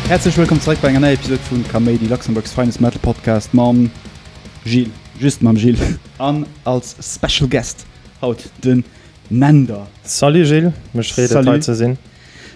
Häerzlech wëllkomm zeréck bei enger neier Episod vu Kaméidi, Luxembourg's finest metal podcast mam Gilles, just mam Gilles, an als special guest haut de Mender. Salut Gilles, mech freet et hei ze sinn.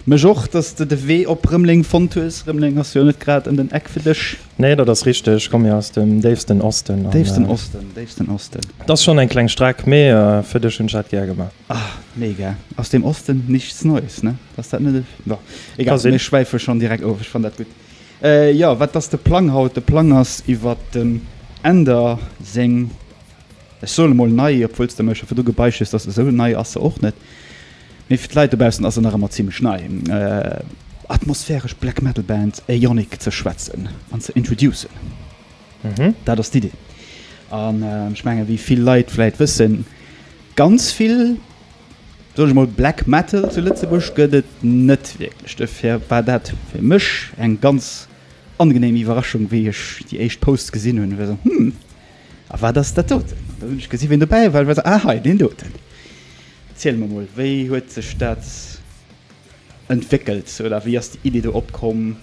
Mech och, dass de de Wee op Rëmleng fonnt hues. Rëmleng ass jo net grad ëm den Eck fir dech. Nee, dat ass richteg. Ech komm jo aus dem déifsten Osten. Déifsten Osten, déifsten Osten. Et ass schonn eng kleng Streck, mee fir dech hunn ech dat gär gemaach. Ah, mega. Aus dem Osten nichts Neues, ne? Ass dat net e. Bon, egal, mir schwäife schonn direkt of. Ech fannen dat gutt. Jo, wat ass de Plang haut? De Plang ass iwwert dem Änder seng. Ech soe mol nei, obwuel s de mech virdu gebeicht hues, dass esou nei ass se och net, mee fir d'Leit dobaussen ass se nach ëmmer zimmlech nei, atmosphäresch Black Metal Band Aeonic ze schwätzen an ze introducen. Dat ass d'Idee. An ech menge wéi vill Leit vläit wëssen, ganz vill, soen ech mol, Black Metal zu Lëtzebuerg gëtt et net wierklech. Dofir war dat fir mech eng ganz angenehm Iwwerraschung, wéi ech déi éischt Posts gesinn hunn, hu mir gesot, hm, A wat ass dat doten? An da hunn ech gesi wien dobäi war, well, ah hei, deen doten. Erziel mer mol, wéi huet sech dat entwéckelt oder wéi ass déi Idee do opkomm?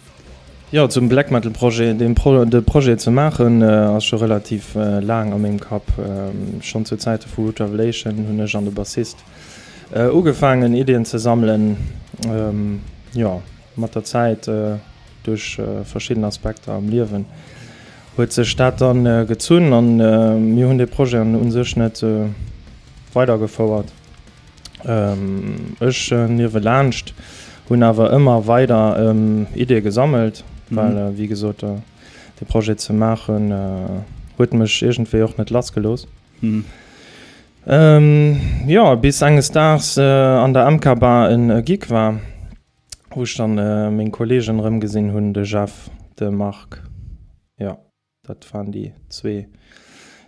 Jo, zum Black Metal Projet, dee Projet ze maachen ass scho relativ laang a mengem Kapp. Schonn zu Zäite vu Root Revelation hunn ech an de Bassist ugefaangen Iddien ze sammelen, jo. Mat der Zäit, duerch verschidden Aspekter am Liewen, huet sech dat dann gezunn a mir hunn dee Projet u sech net weidergefouert. Ech niewelaanscht hunn awer ëmmer weider Ideeë gesammelt, well wéi gesot dee Projet ze maachen huet mech iergendwéi och net lass gelooss. Jo, bis enges Daags an der MK-Bar e Gig war. wou ech dann meng Kollegen erëm gesinn hunn, de Jeff, de Marc, jo dat waren déi zwee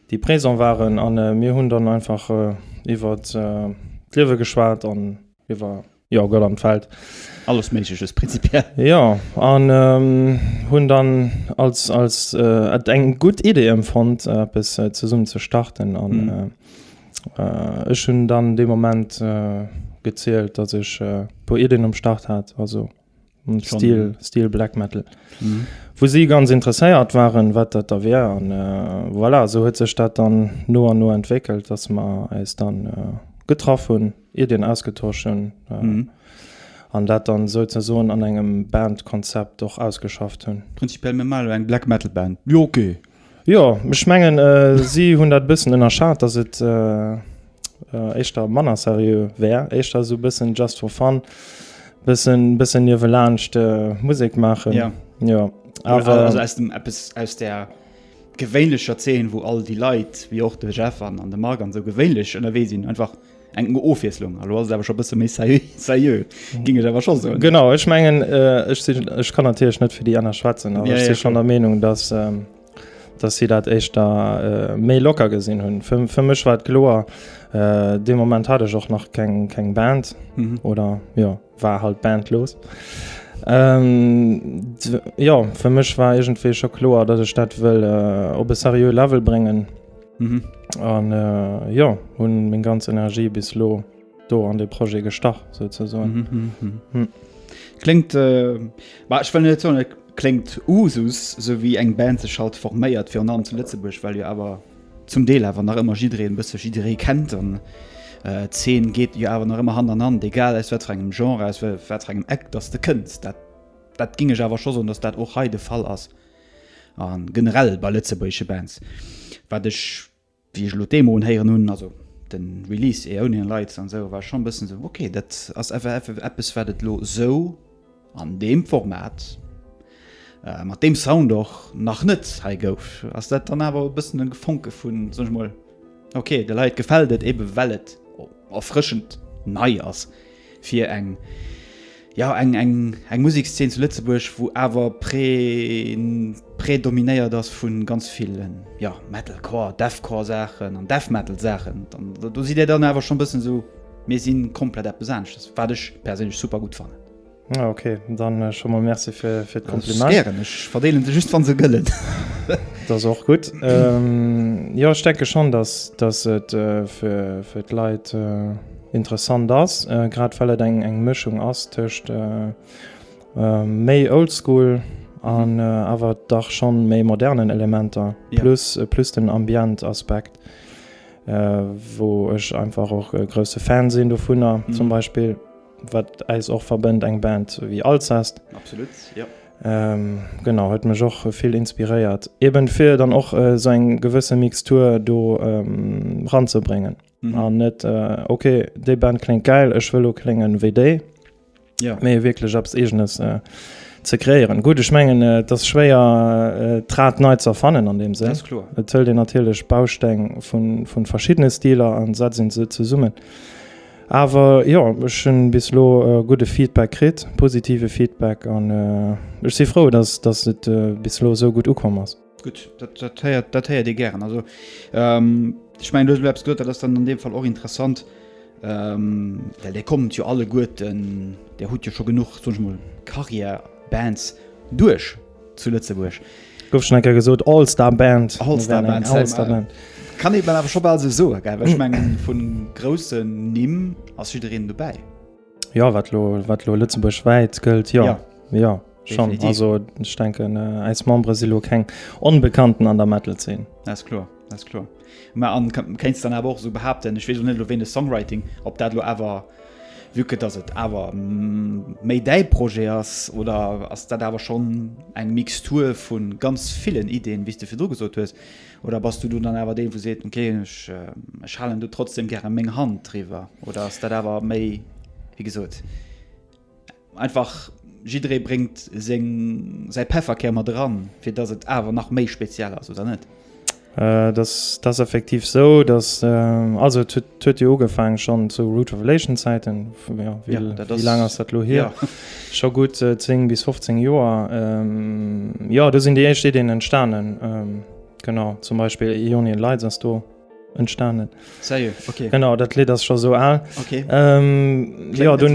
déi présent waren an mir hunn dann einfach iwwert d'Liewe geschwat an iwwer jo Gott an d'Welt. Alles méigleches prinzipiell. Jo an hunn dann als als et eng gutt Idee emfonnt eppes zesummen ze starten an Ech hunn dann dee Moment gezielt, datt ech e puer Iddien um Start hat, also Stil, Stil Black Metal, wou si ganz interesséiert waren, wat dat da wär. An voilà, esou huet sech dat dann no an no entwéckelt, datt mer äis da getraff hunn, Iddien ausgetosch hunn an dat dann souzesoen an engem Bandkonzept och ausgeschafft hunn. Prinzipiell, mir maachen elo eng Black Metal Band. Jo, ok. Jo, ech mengen si hunn dat e bëssen ënnerschat, datt et éischter manner seriö wär, éischter esou e bëssen just for fun, bëssen bëssen niewelaanscht Musek maachen. Ja. Jo, awer. Also aus dem eppes aus der gewéinlecher Zeen, wou all déi Leit, wéi och de Jeff an de Marc an esou, gewéinlech ënnerwee sinn, einfach. eng Ofwieslung. Hallo ass awer scho bësse méi seriö ging ech awer scho so. Genau ech mengen äh, ech, sinn, ech kann natierlech net fir déi ënner schwätzen, awer ja, ech si ja, schon der Meinung, dass, ähm, dass si dat éischter da äh, méi locker gesinn hunn. Fir, fir mech war et kloer, äh, de Moment hat ech och nach keng, keng Band mhm. oder ja. war halt d'Band los. Jo fir mech war egentwee scho kloer, datt ech dat wëll op e seriöe Level bréngen an jo hunn meng ganz Energie bis elo do an de Projet gestach souzesoen. Kléngt bah ech wëll net soen, et kléngt Usus, esou wéi eng Band sech halt forméiert, virun allem zu Lëtzebuerg, well jo awer zum Deel awer nach ëmmer jiddereen e bësse jidderee kennt an d'Zeen geet jo awer nach ëmmer Hand an Hand, egal aus wat fir engem Genre, aus wat fir engem Eck dass de kënns. Dat dat géing ech awer scho soen, dass dat och hei de Fall ass a generell bei lëtzebuergesche Bands, wat ech, wéi ech elo d'Demo unhéieren hunn, also de Release Aeonian Lights an esou, war ech schonn e bëssen esou, ok, dat ass eppes wat et elo esou. An deem Format, mat deem Sound och nach net hei gouf, ass dat dann awer e bëssen e Gefonke vun, soen ech mol, ok, de Leit gefält et ebe well et erfrëschend nei ass fir eng, jo eng, eng Musekszeen zu Lëtzebuerg wou awer prä, prädominéiert ass vu ganz ville, jo Metalcore, Deathcore Saachen an Death Metal Saachen. Do sidd Dir dann awer schonn e bëssen esou, mir si komplett eppes aneschters, wat ech perséinlech super gutt fannen. Ah, okay, dann äh, schon mal Merci fir fir d'Kompliment. Ären ech verdeelen se just wann se gëllen. das och gut. Ähm, ja stecke schon, dass dass et äh, fir fir d'Leit äh, interessant ass, äh, grad well et eng eng Mëchung ass tëscht äh, äh, méi oldschool an äh, awer dach schon méi modernen Elementer Ja. plus äh, plus den Ambientaspekt. Äh, wo ech einfach och äh, grosse Fan sinn dovunner Mhm. zum Beispiel. Wat äis och verbënnt, eng Band wéi Alcest. Absolut, jo. Genau, huet mech och vill inspiréiert, eben fir dann och esou eng gewësse Mixtur do ranzebréngen an net ok, déi Band kléngt gäil, ech wëll elo klénge wéi déi, mee wierklech eppes Eegenes ze kreéieren. Gutt, ech mengen, et ass schwéier, d'Rad nei ze erfannen an deem Sënn. Dat ass kloer. Et hëlt een natierlech Bausteng vu verschiddene Stiler a setzt se zesummen. Awer jo, ech hunn bis elo gudde Feedback kritt, positive Feedback an ech si frou, dass dass et bis elo esou gutt ukomm ass. Gutt, dat dat héiert dat héiert ee gären. Also ech mengen du hues elo eppes gesot, dat ass dann an deem Fall och interessant, well Dir kommt jo alleguerten, Dir hutt jo scho genuch, soen ech mol, Carrière, Bands duerch. Zu Lëtzebuerg. Gouf schon eng Kéier gesot, All Star Band. All Star Band, All Star Band. Kann een awer scho bal esou soen, gell? Well ech mengen, vu groussen Nimm ass jiddereen dobäi. Jo, wat elo, wat elo lëtzebuergwäit gëllt, jo. Jo, schonn. Definitiv. Also, ech denken, äis Membere si elo keng Onbekannten an der Metal-Zeen. Dat ass kloer. Das klar. Ma an kéinst dann awer och so behaupten, ech wees net lo wéi de Songwriting, op dat lo awer wieke, dats et awer mm, méi däi Projet ass, oder ass dat awer schonn eng Mixtur vu ganz villen Ideen, wéi s de virdru gesot hues? Oder bass du dann awer deen, wou seet, ok, ech ech halen do trotzdem gäre meng Hand driwwer? Oder ass dat awer méi, wéi gesot? Einfach jidderee bréngt seng, säi Pefferkär mat eran, fir datt et awer nach méi speziell ass, oder net? Dat ass effektiv esou, datt, also et huet jo ugefaangen schonn zu Root Revelation Zäiten, jo, wéi laang ass dat elo hier? Scho gutt 10 bis 15 Joer, jo, do sinn déi éischt Iddien entstanen, genau, zum Beispill Aeonian Lights ass do. entstanden genau dat Lied das schon so al okay. ähm, ja, du,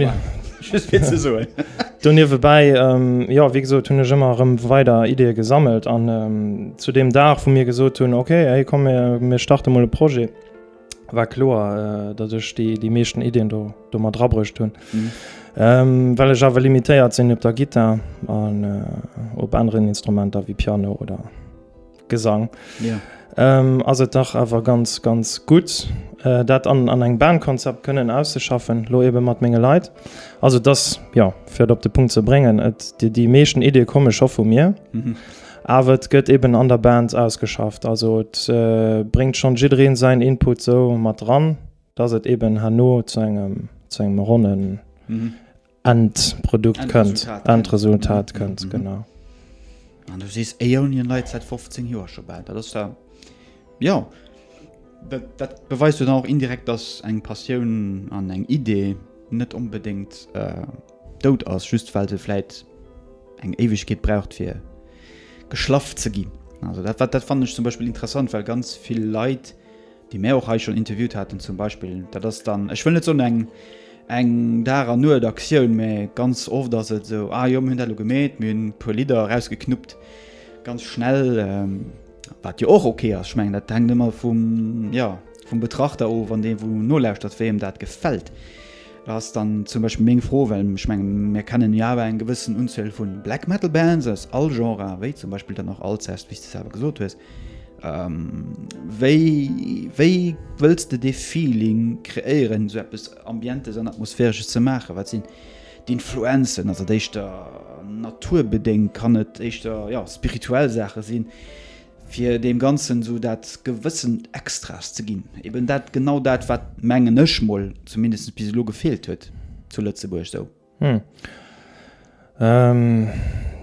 du nie vorbei ähm, ja wie gesagt tun immer weiter Idee gesammelt an ähm, zu dem Dach von mir gesucht tun okay hey, komm mir, mir starte mal projet war klar äh, dass ich die die meisten Ideen du du mal drabrücht tun mhm. ähm, weil ich aber limitiert sind ob der Gitter an äh, ob anderen Instrumenter wie Piano oder Gesang yeah. ass et dach awer ganz ganz gutt äh, dat an, an eng Bandkonzept kënnen auszeschaffen, lo ebe mat menge Leiit. Also das ja fir et op de Punkt ze bréngen, et Dir déi meeschten Idee komme scho vu mir. Mhm. Awer et gëtt eben an der Band ausgeschafft. Also et äh, bréngt schon jiddreen säin Input sou mat dran, dass et eben hanno zu engem zu engem ronnen mhm. Endprodukt kënnt, Endresultat kënnt, genau. An du sees Aeonian Light säit 15 Joer scho bal. Dat ass da, jo, dat beweist jo dann och indirekt, datt eng Passioun an eng Idee net onbedéngt dout ass, just well se vläit eng Éiwegkeet braucht fir geschlaff ze ginn. Also dat fannen ech zum Beispill interessant, well ganz vill Leit, déi mär och hei schonn interviewt haten zum Beispill, dat ass dann, ech wëll net soen eng eng Dag an Nuet Aktioun, mä ganz oft ass et esou, ah jo mir hunn dat elo gemeet, mir hunn e puer Lidder erausgeknuppt, ganz schnell, wat jo och ok ass, ech mengen dat hänkt ëmmer vum, jo vum Betrachter of an deem wou en nolauschtert wéi em dat gefält. Da ass dann zum Beispill meng Fro, well ech menge mir kennen jo awer eng gewëssen Unzuel vu Black Metal Bands aus all Genrë wéi zum Beispill dann och Alcest, wéi s de selwer gesot hues. Wéi, wéi wëlls de dee Feeling kreéieren, esou eppes Ambientes an Atmosphäresches ze maachen? Wat sinn d'Influenzen? Ass et éischter naturbedéngt? Kann et éischter, jo, spirituell Saache sinn? fir deem Ganzen esou dat gewëssent Extras ze ginn, eben dat, genau dat, wat, mengen ech mol, zumindest bis elo gefeelt huet zu Lëtzebuerg esou. Hm.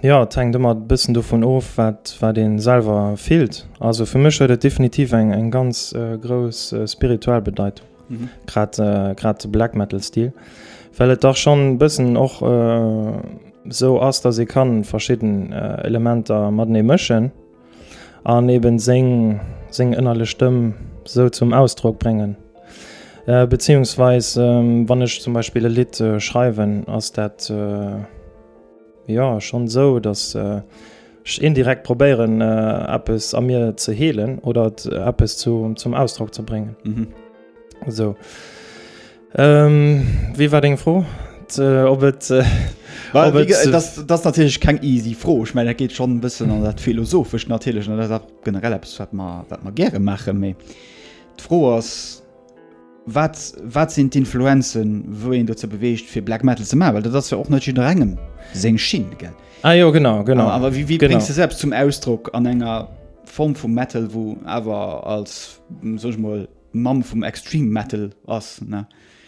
Jo, et hänkt ëmmer e bëssen dovun of, wat, wat ee selwer fillt. Also fir mech huet et definitiv eng, eng ganz grouss spirituell Bedeitung. Grad grad de Black Metal Stil, well et dach schonn e bëssen och esou ass, dass ee kann verschidden Elementer matenee mëschen an eben seng seng ënnerlech Stëmm esou zum Ausdrock bréngen. Beziehungsweis wann ech zum Beispill e Lidd schreiwen ass dat. Jo, schonn esou, datt ech indirekt probéieren, eppes a mir ze heelen oder et eppes zum Ausdrock ze bréngen. Esou. Wéi war deng Fro? Ob et. Dat ass natierlech keng easy Fro. Ech mengen, dat geet schonn e bëssen an dat Philosophescht natierlech an dat ass och generell eppes, wat mer gäre maachen. Mee d'Fro ass. Wat, wat sinn d'Influenzen, wou een dozou beweegt, fir Black Metal ze maachen? Well dat ass jo och net jidderengem seng Schinn, gell? Ah jo, genau, genau. A, a wéi, wéi bréngs de selbst zum Ausdrock an enger Form vu Metal, wou awer als, soen ech mol, Mamm vum Extreme Metal ass, ne?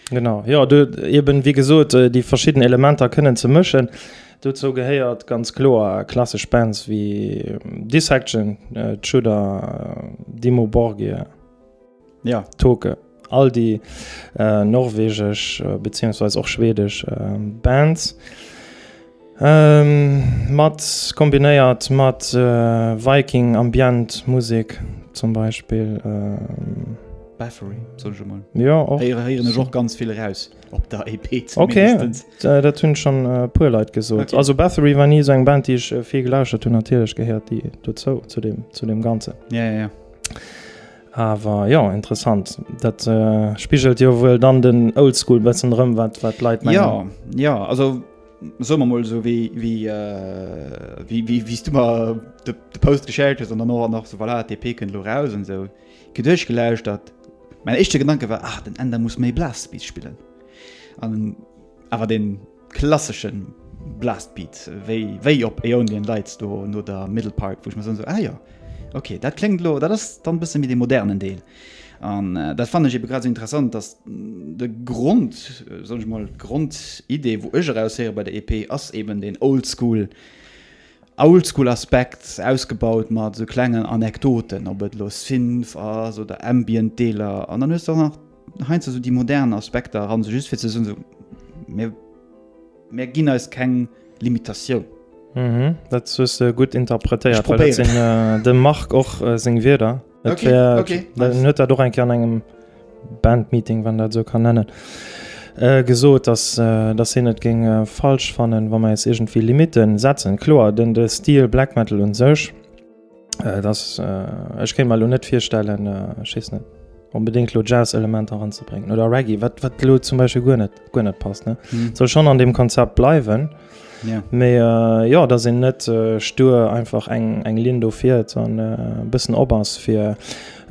Genau, jo, do eben, wéi gesot, déi verschidden Elementer kënnen ze mëschen. Dozou gehéiert ganz kloer klassesch Bands wéi Dissection, Tudor, Dimmu Borgir. Jo, Toke. All déi norwegesch beziehungsweise och schwedesch Bands mat kombinéiert mat Viking Ambient Musek zum Beispill. Bathory soll ech emol héieren ech och ganz vill eraus op der EP. Ok, dat hunn schonn e puer Leit gesot. Also Bathory war ni esou eng Band déi ech vill gelauschtert hunn. Natierlech gehéiert déi dozou zu deem Ganzen. Jo, jo, jo. Awer jo, interessant. Dat spigelt jo wuel dann den Oldschool bëssen erëm, wat d'Leit mengen. Jo, jo, also soe mer mol esou, wéi s du mer de Post geschéckt hues an dann och nach esou, voilà, d'EP kënnt elo eraus an esou. Ech hu duerchgelauschtert, mäin éischte Gedanke war, ah, den Änder muss méi Blastbeat spillen. Awer deen. Klasseschen Blastbeat wéi wéi op Aeonian Lights do no der Middle Park woch so ah, ja. okay dat klingt lo dat ass dann bësse mit de modernen Deel an äh, dat fan ebe grad so interessant dass mm, de Grund äh, so mal Grundidee wo ech erausheere bei der EP ass eben den oldschool oldschool Aspekt ausgebaut mat so klengen Anekdoten op et los Synth ass oder ambient Deeler an dann hues du nach Heinz also déi modern Aspekter eran, sou just fir ze soen, sou, mir, mir ginn eis keng Limitatioun. Mhm, dat hues de gutt interpretéiert, well dat sinn äh, dem Marc och äh, seng Wierder. Et okay, wär, okay. Nice. huet dat och eng Ker an engem Bandmeeting, wann dat sou kann nennen, äh, gesot, dass, äh, dass hien et géing äh, falsch fannen, wa mer eis iergendwéi Limite setzen. Kloer, den de Stil Black Metal un sech, Äh, das, äh, ech kéint mal lo net virstellen äh, schiss net unbedingt lo Jazzelement anzubringen oder Reggie wat wat lo zum Beispiel gu net gu net passt ne hm. soll schon an dem Konzept bleiwen ja. Me äh, ja da sinn net äh, stur einfach eng eng Lin do firiert an äh, bëssen op ass fir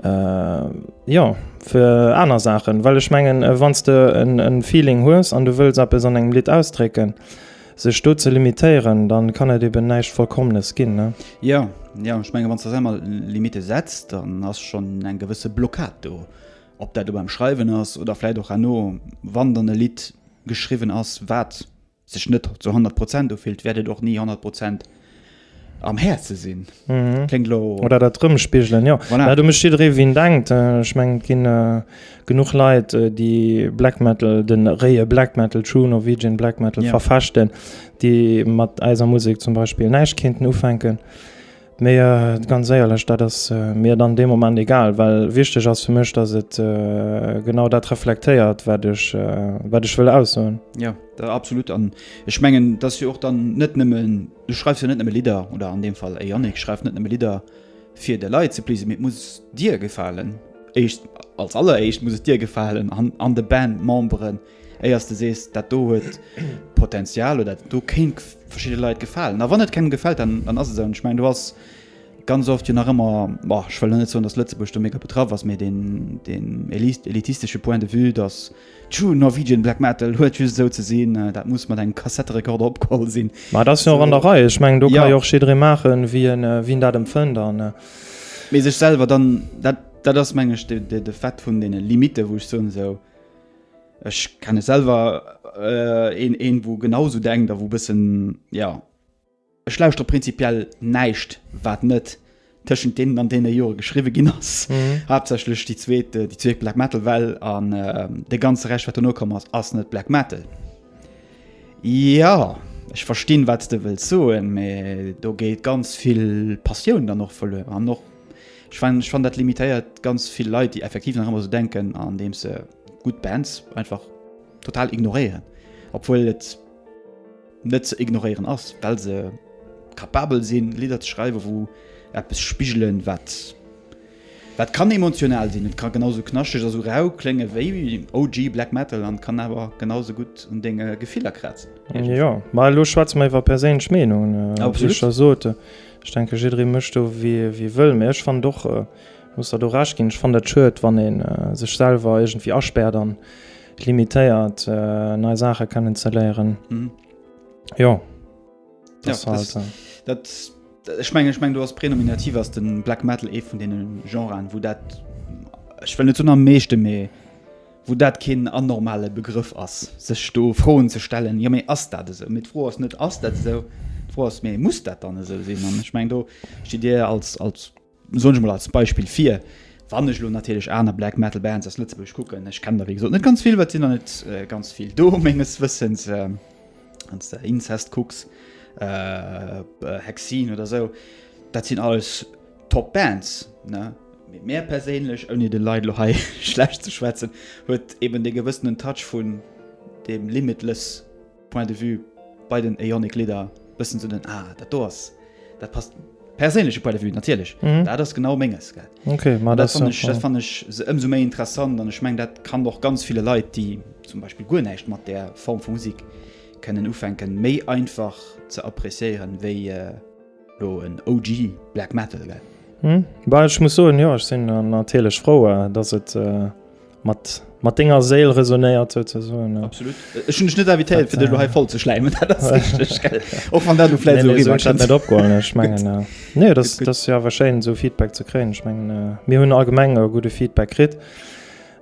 äh, ja fir aner Sachen well ech mengen äh, wanns du en Feeling hues an du wëst ab es an engem Lit ausdrécken. Sech do ze limitéieren, dann kann et eben näischt Vollkommenes ginn, ne? Jo, jo, ech mengen, wann s de selwer Limitte setz, dann ass schonn eng gewësse Blockad do. Ob dat lo beim Schreiwen ass oder vläit och herno, wann dann e Lidd geschriwwen ass, wat sech net zu honnert Prozent ufillt, wäert et och ni honnert Prozent am Häerze sinn. Mhm. Klingt lo. Oder dat rëmspigelen, jo. Voilà. Dat mécht jidderee wien denkt. Äh, Ech mengen, et ginn äh, genuch Leit, äh, déi Black Metal, den réie Black Metal, True Norwegian Black Metal Ja. verfechten, déi mat eiser Musek zum Beispill näischt kéinten ufänken. Mee äh, ganz éierlech, dat ass äh, mir dann dee Moment egal, well wichteg ass fir mech, datt et äh, genau dat reflektéiert, wat ech, äh, wat ech wëll aussoen. Ja. Absolut an ech mengen dass jo och dann net nëmmen du schreifst jo net nëmme Lidder oder an dem Fall e Yannick schreift net nëmme Lidder fir de Leit ze please mit muss dir gefalen Eischt als aller Eischt muss et dir gefalen an an de Band Memberen éiers de sees dat do huet Potenzial oder do kéint verschidde Leit gefalen a wann et kengem gefält dann dann ass et esou an ech mengen do ass ganz oft jo nach ëmmer ech wëll lo net soen dass Lëtzebuerg do mega betraff ass mee deen deen elitistesche Point de vue dass et True Norwegian Black Metal huet just esou ze sinn, dat muss mat engem Kassetterekorder opgeholl sinn. Ma et ass jo och an der Rei, ech mengen do ka jo och jiddree maachen wéi en wéi en dat empfënnt an. Mee sech selwer dann, dat dat ass mengen ech de Fait vun deene Limiten, wou ech soen esou, ech kennen selwer een een wou genau esou denkt a wou bëssen jo. Ech lauschteren prinzipiell näischt wat net tëschent deenen an deene Jore geschriwwe ginn ass. Haaptsächlech déi zweet, déi zweet Black Metal Well an de ganze Rescht wat dono komm ass, ass net Black Metal. Jo, ech verstinn wat s de wëlls soen, mä do geet ganz vill Passioun dann och verluer an och ech fannen, ech fannen dat limitéiert ganz vill Leit déi effektiv nach ëmmer esou denken, andeems se gutt Bands einfach total ignoréieren, obwuel et. net ze ignoréieren ass, well se capabel sinn, Lidder ze schreiwen, wou eppes spigelen, wat, wat kann emotional sinn, et ka genausou knaschteg a sou rau klénge wéi OG Black Metal an kann awer genausou gutt un denge Gefiller krazen. Jo, ma elo schwätze mer iwwer perséinlech Meenungen, wéi ech scho sot. Ech denke jidderee mécht do wéi e wëll, mä ech fannen och, muss der do Recht ginn, ech fannen dat schued, wann ee sech selwer iergendwéi aspäert an, limitéiert nei Saache kennen ze léieren. Mhm. Jo ja, dat Ech mengg ech mengg du ass prenominativ ass den Black Metal ee vun deenen Genren, wou dat Ech well net zun am meeschte méi wou dat keen an normale Begrëff ass sech do froen ze stellen ja méi ass dat esou mit froh ass net ass dat esou froh ass méi muss dat dann esou sinn an ech meng do schi dir als als Soen ech emol als Beispill vir, wann ech elo natierlech aner Black Metal Bands aus Lëtzebuerg kucken, ech kennen der wéi gesot net ganz vill, well et sinn der net ganz vill do menges Wëssens, wann s de Incest kucks, Hexene oder esou, dat sinn alles top Bands, ne? Mee mär perséinlech, ouni de Leit elo hei schlecht ze schwätzen, huet eben dee gewëssenen Touch vun deem Limitless Point de vue bei den Eonic Lidder bëssen sou den ah dat do ass dat passt perséinleche Point de vue natierlech mhm. dat ass genau menges gell okay, ma dat, dat fand ech, fand ech se ëmso méi interessant an ech meng dat kann doch ganz viele Leiit déi zum Beispiel guer näicht mat der Form vu Musik kënnen ufänken méi einfach ze appréciéieren wéi äh, Lo en OG Black Metal gell? Hm, bah ech muss soen jo, ech sinn natierlech frou, datt et mat mat denger Séil resonéiert sou ze soen. Absolut, ech hunn dech net invitéiert fir dech lo hei voll ze schläimen, dat ass richteg gell, och wann dat lo vläit esou eriwwer kënnt. Nee, sou hunn ech dat net opgeholl, ech mengen nee, dat ass jo awer schéin esou Feedback ze kréien, ech mengen mir hunn allgemeng e gudde Feedback kritt.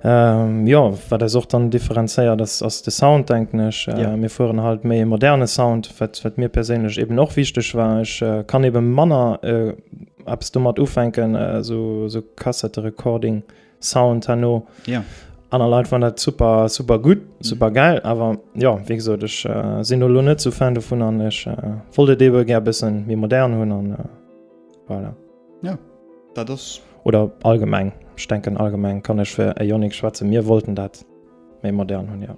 Jo, wat eis och dann differenzéiert ass de Sound denken ech. Mir fueren halt méi e moderne Sound, wat mir perséinlech eben och wichteg war. Ech kann ebe manner eppes domat ufänken, esou Kassetterecording Sound herno. Aner Leit fannen dat super, super gutt, super gäil. Awer jo, wéi gesot, ech sinn elo net esou Fan dovun an ech wollt et ebe gär e bësse méi modern hunn an voilà. Ja, dat ass. Oder allgemeng, ech denken allgemeng kann ech fir Ioniq schwätzen, mir wollten dat méi modern hunn, jo.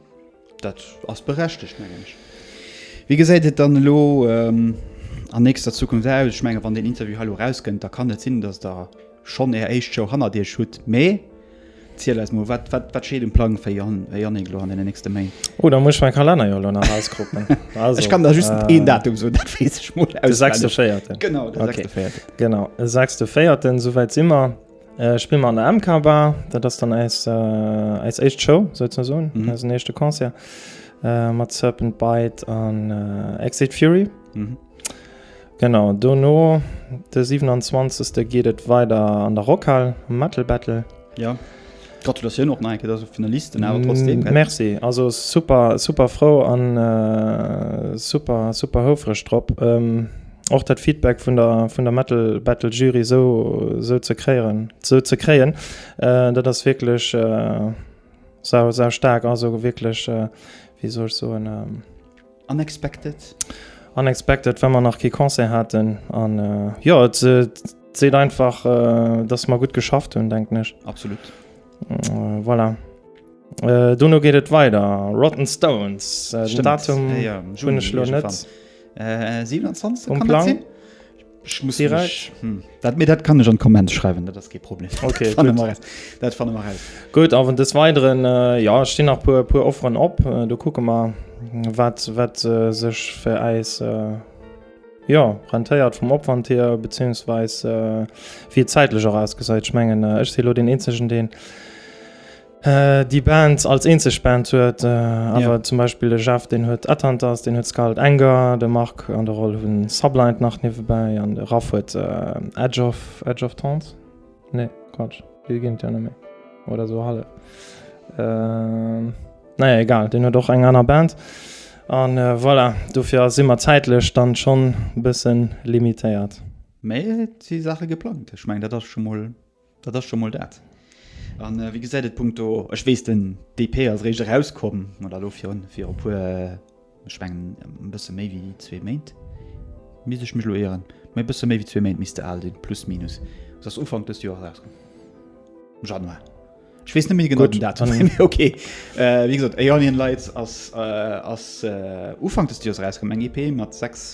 Dat ass berechtegt, mengen ech. Wéi gesäit et dann elo an nächster Zukunft aus? Ech menge wann deen Interview hei elo erauskënnt, da kann et sinn, datt Der schonn Är éischt Show hannert Iech hutt, mee. Ziel eis mol, wat wat steet um Plang fir Jannik lo an den nächste Méint? Oh da muss ech mäi Kalenner jo lo nach auskroppen. Also, ech kann der just een Datum soen, dat weess ech mol auswendig. De sechste Véierten. Genau, de sechste Véierten. Okay, genau, e sechste Véierten, sou wäit si mer, spille mer an der MK Bar. Dat ass dann äis äis éischt Show souzesoen, äisen éischte Concert mat Serpent Bite an Exit Fury. Genau, dono de 27 geet et weider an der Rockhal um Metal Battle. Jo, Gratulatioun och nach eng Kéier, dass e Finalist den awer trotzdem gëtt. Merci, also super, super frou an super, super houfreg drop och dat Feedback vun der vun der Metal Battle Jury esou esou ze kréieren esou ze kréien. Dat ass wierklech sau, sau staark, also wierklech wéi soll ech soen, Unexpected? Unexpected, well mer nach kee Concert haten an jo et seet einfach, datt mer gutt geschafft hunn, denken ech. Absolut. Voilà. Dono geet et weider, Rotten Stones, den Datum hunn ech elo net um Plang. Ech muss direkt hm. dat, mir dat kann ech an Komment schreiwen dat ass kee Problem okay, dat fan mar gut a des weideren äh, ja ste nach puer puer offeren op äh, du kucke mal wat wat äh, sech fir eis äh, ja rentéiert vum opwand hier beziehungsweis äh, wie zeitlich auch ausgeseit schmengen äh, ech silo den enzegen den Äh, déi Band als eenzeg Band huet, äh, awer ja. zum Beispiel de Jeff den huet Attentas, den huet Scarlet Anger, de Mark an der Rolle hunn Sublind nach niewebäi an de Raff huet äh, Edge of Edge of Towns. Nee, Quatsch, Wie ginint ja méi oder so halle. Äh, naja, egal, den huet och eng aner Band. An äh, voilà, dofir ass immer zäitlech dann schonn bëssen limitéiert. Méi si Sache geplant. Ech meng dat ass schon moll. Dat ass scho mol dat. A wéi gesäit et punkto, ech weess den DP ass réischt erauskomm, oder elo virun fir e puer, ech mengen e bësse méi wéi zwee Méint, misst ech mech elo ieren, mä e bësse méi wéi zwee Méint misst se al sinn, plus minus, se ass Ufank dëst Joers erauskomm, Januar, ech weess net méi genau den Datum, mä okay. Wéi gesot, Aeolian Lights ass Ufank dëst Joers erauskomm, eng EP mat sechs.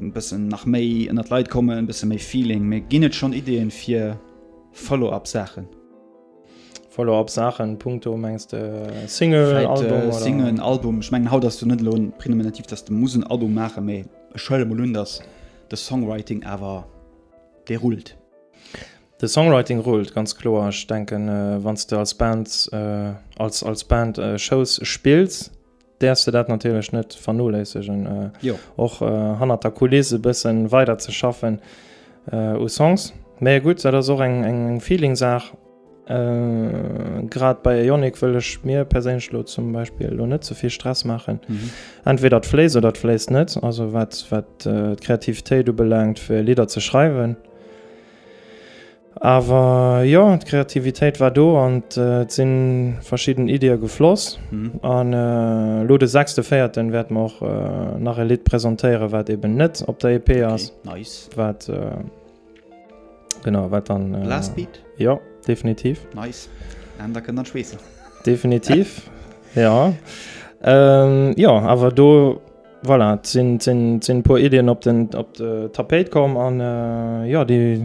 e bëssen nach méi ënnert Leit kommen, e bësse méi Feeling, mee ginn et schonn Ideeën fir Follow-up Saachen? Follow-up Saachen punkto mengs de Single, Vläit, äh, Album oder? Singen, Album, ech mengen haut ass du net elo prenominativ, datt de muss en Album maachen, mee ech huele mol un, datt de Songwriting awer dee rullt. De Songwriting rullt ganz kloer. Ech denken, wann s de als Band, als, als Band Shows spills, Däerfs de dat natierlech net vernoléissegen, och hannert der Kuliss e bëssen weider ze schaffen u Songs. Mee gutt, dat ass och eng Feeling-Saach. Grad bei Ionic wëll ech mir perséinlech elo zum Beispill elo net ze vill Stress maachen. Entweder et fléisst oder et fléisst net. Also wat d'Kreativitéit ubelaangt fir Lidder ze schreiwen. Awer jo, d'Kreativitéit war do an et sinn verschidden Iddie gefloss. An elo de sechste véierten wäerte mer och nach e Lidd presentéieren, wat eben net op der EP ass, wat genau, wat dann. Blastbeat? Jo, definitiv. Nice. An da kënnt dann d'Schweessen. Definitiv, jo. Jo, awer do Voilà, et sinn, sinn, sinn e puer Iddien op den, op de Tapéit komm an jo, déi,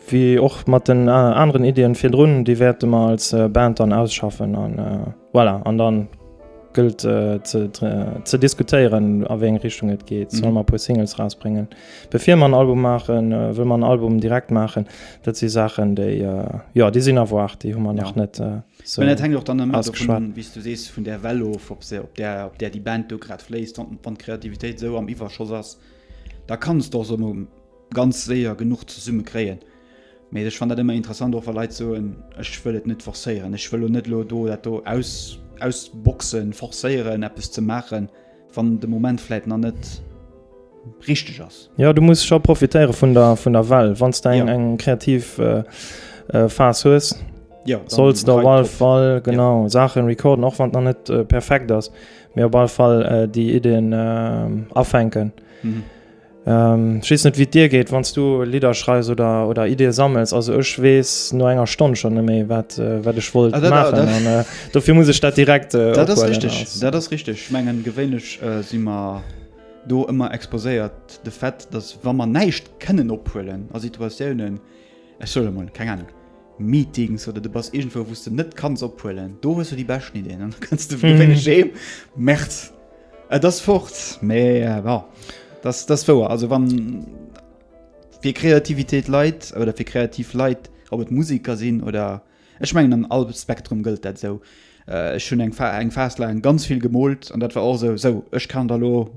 wéi och mat den aneren Iddien virdrun, déi wäerte mer als Band dann ausschaffen an voilà. An da gëllt ze, ze diskutéieren, a wéi eng Richtung et geet. Solle mer e puer Singles erausbréngen, bevir mer en Album maachen? Wëlle mer en Album direkt maachen? Dat si Saachen, déi, jo, déi sinn à voir, déi hu mer nach net. So, dat hängt och dann ëmmer davon, wéi du sees, vun der Well of, ob se op der, op der déi Band do grad fléisst. Wann, wann d'Kreativitéit esou am Iwwerschoss ass, da kanns de och esou mol ganz séier genuch zesumme kréien. Mee ech fannen dat ëmmer interessant, och wa Leit soen, ech wëll et net forcéieren, ech wëll lo net lo do dat do aus, ausboxen, forcéieren, eppes ze maachen. Wann de Moment vläit nach net richteg ass. Jo, du muss scho profitéiere vun der, vun der Well. Wann s de eng, eng kreativ Phas hues, solls de op all Fall, genau, Saachen recorden, och wann et nach net perfekt ass, mee op all Fall déi Iddien afänken. Ech weess net wéi et dir geet, wann s du Lidder schreifs oder Iddie sammels. Also ech weess no enger Stonn schonn net méi, wat ech wollt maachen. An dofir muss ech dat direkt ophuelen. Dat ass richteg. Dat ass richteg. Ech mengen, gewéinlech si mer do ëmmer exposéiert de Fait, datt wa mer näischt kënnen ophuelen a Situatiounen, ech soe mol, keng Ahnung, Meetings oder du bass irgendwou wous de net kanns ophuelen, do hues du déi beschten Ideen an da kënns de wéineg heem, Merd, et ass fort. Mee bon, dass dass wouer. Also wann fir Kreativitéit Leit oder fir kreativ Leit, ob et Musiker sinn oder, ech mengen an all Spektrum gëllt dat esou. Ech hunn eng eng Phas laang ganz vill gemoolt an dat war och esou, esou ech kann da lo,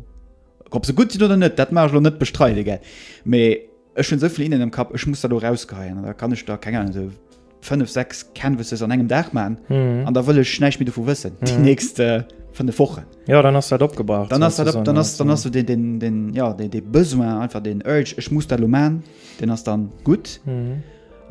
ob se gutt sinn oder net, dat mag ech lo net bestreide gell, mee. Ech hunn esou vill Innen am Kapp, ech muss der elo erausgeheien, an da kann ech der, keng Ahnung, esou fënnef, sechs Canvases an engem Dag maachen, an da wëll ech näischt méi dovu wëssen déi nächst fënnef Wochen. Jo, dann ass dat opgebraucht. Dann ass dat op, dann ass, dann ass esou deen, deen, jo, dee, dee Besoin, einfach deen Urge, ech muss dat elo maachen, deen ass dann gutt.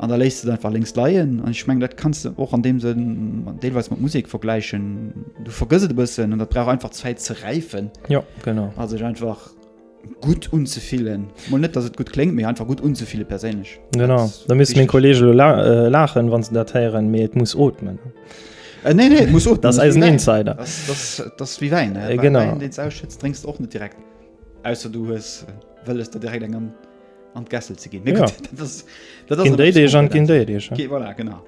An da léisst de et einfach lénks leien. An ech mengen, dat kanns de och an deem Sënn deelweis mat Musek vergläichen. Du vergëss et e bëssen an dat brauch einfach Zäit ze räifen. Jo, genau. A sech einfach. gutt unzefillen Mol net dass et gut klingt mir einfach gut unzefile perséinlech Genau da miss mé Kolleg lachen wann ze dat heieren mé et muss otmen. Äh, nee, nee, muss och das eisen Insider das, das, das wie wein äh, genau den ausschützt trinkst och net direkt außer du hues äh, wëlles der direkt eng an an d'Gessel ze ginn. Ja. Dat ass déi Deeg an ginn déi Deeg. Okay, voilà, genau.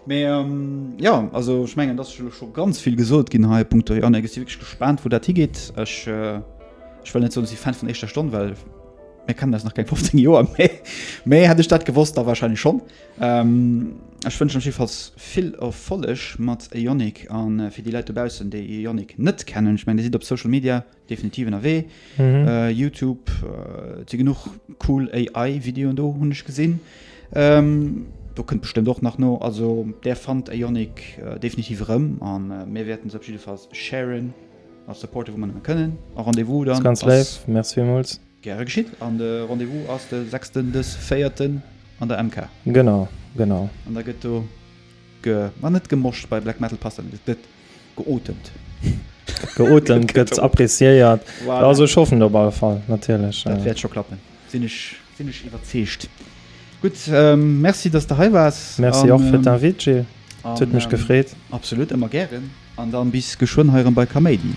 Mais, ähm, ja also ich mengen das schon ganz viel gesot gin ha Punkt an wirklich gespannt wo dat higeht ich, äh, ich will net so sie fan von echtter Stunde weil mir kann das nach kein 15 Joer méi hätte ich dat gewusst da wahrscheinlich schon ähm, ich wünsche jedenfalls viel erfollech mat Ionic an äh, fir die Leute bausen de Ionic net kennen ich mein die sieht op Social Media Definitiv ënnerwee Youtube si genuch cool AI Videoen do hunn ech gesinn do kënnt bestëmmt och nach no. Also där fannt Ionic definitiv erëm a mir wäerten se op jiddefalls sharen a supporten wou mer nëmme kënnen a Rendez-vous dann ass. Ganz léif, Merci villmools. Gäre geschitt an de Rendez-vous ass de sechsten de véierten an der MK. Genau, genau. An da gëtt do ge, ma net gemoscht, bei Black Metal passt dat net, et gëtt. Geotemt. Geotemt gëtt appreciéiert. Voilà. Also ech hoffen op alle Fall, natierlech. Dat wäert scho klappen. Sinn ech, sinn ech iwwerzeegt. Gutt, ähm, merci, dass de hei waars. Merci och fir d'Invite, Gilles. Et huet mech gefreet. Absolut, ëmmer gären. An dann bis geschwënn hei erëm bei Kaméidi.